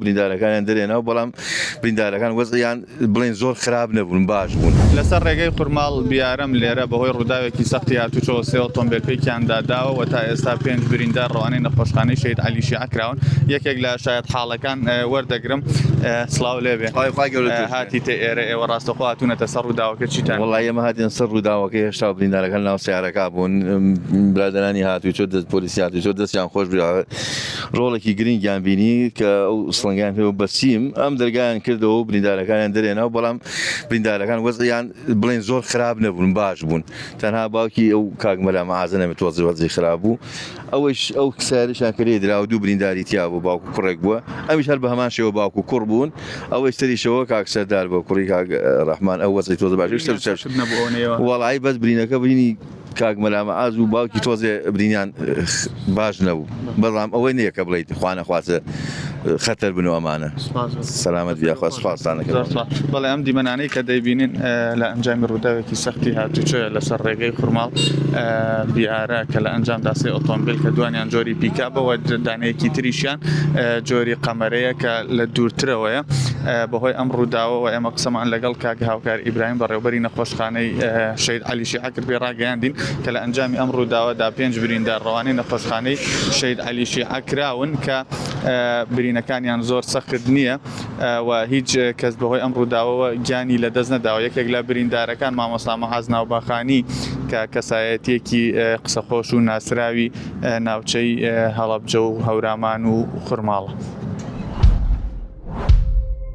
بریندارەکانیان دەرێنا و بەڵام بریندارەکان وەزعیان بڵێن زۆر خراپ نەبوون باش بوون. لەسەر ڕێگەی قورماڵ بیارەم لێرە بەهۆی ڕووداوێکی سەختی هاتوچۆوە سێ ئۆتۆمبێل پێکیان داداوە و تا ئێستا پێنج بریندار ڕەوانەی نەخۆشخانەی شەهید عەلی شیعە کراون یەکێک لە شایەتحاڵەکان وەردەگرم سڵاو لێبێ سڵاوی خوای گەورە لێت بێت. هاتیتە ئێرە ئێوە ڕاستەوخۆ هاتوونەتە سەر ڕووداوەکە چیتان وەڵا ئێمە هاتینە سەر ڕووداوەکە هێشتا بریندارەکان ناو سەیارەکە بوون برادەرانی هاتوچۆ دەست پۆلیسی هاتوچۆ دەستیان خۆش بێ ڕۆڵێکی گرنگیان بینی کە ئەو سڵنگیان پێ بەچیم ئەم دەرگایان کردەوە و بریندارەکانیان دەرێنەوە بەڵام بریندارەکان وەزیان بڵێن زۆر خراپ نەبوون باش بوون تەنها باوکی ئەو کاگمەلا مەعازە نەمێت وەزی وەزی خراپ بوو ئەوەیش ئەو ساریشان کرێ درا و دوو برینداری تیا بوو باوکو کوڕێک بووە ئەمیش هەر بە هەمان شێوە باوکو کوڕ بوون ئەوەی سەریشەوە کاک سەردار بە کوڕی کاک ڕەحمان ئەو وەزی تۆز باش وڵی بەس برینەکە بینی کاک مەلا مەعاز و باوکی تۆزێ برینیان باش نەبوو بەڵام ئەوەی نییە کە بڵیت خوانە خوازە خەتەر بن و ئەمانە سەلامەت یاخوا سپاسانەکە بەڵێ ئەم دیمەنانەی کە دەیبینین لە ئەنجامی ڕووداوێکی سەختی هاتوچە لەسەر ڕێگەی خورماڵ بیارە کە لە ئەنجام داسی ئۆتۆمبیل کە دوانیان جۆری پیکا بەوە دانەیەکی تریشیان جۆری قەمەرەیە کە لە دوورترەوەیە بەهۆی ئەم ڕووداوەوە ئێمە قسەمان لەگەڵ کاک هاوکار ئیبراهیم بەڕێوبەری نەخۆشخانەی شید علی شیعەکرد پێی ڕاگەیاندین کە لە ئەنجامی ئەم ڕووداوەدا پێنج بریندار ڕەوانەی نەخۆشخانەی شەهید عەلی شیعە کراون کە برینەکانیان زۆر سەخت نییە و هیچ کەس بەهۆی ئەم ڕووداوەوە گیانی لەدەست نەداوە یەکێک لە بریندارەکان مامۆستا مەعاز ناوباخانی کە کەسایەتیەکی قسەخۆش و ناسراوی ناوچەی هەڵەبجە و هەورامان و خورماڵە.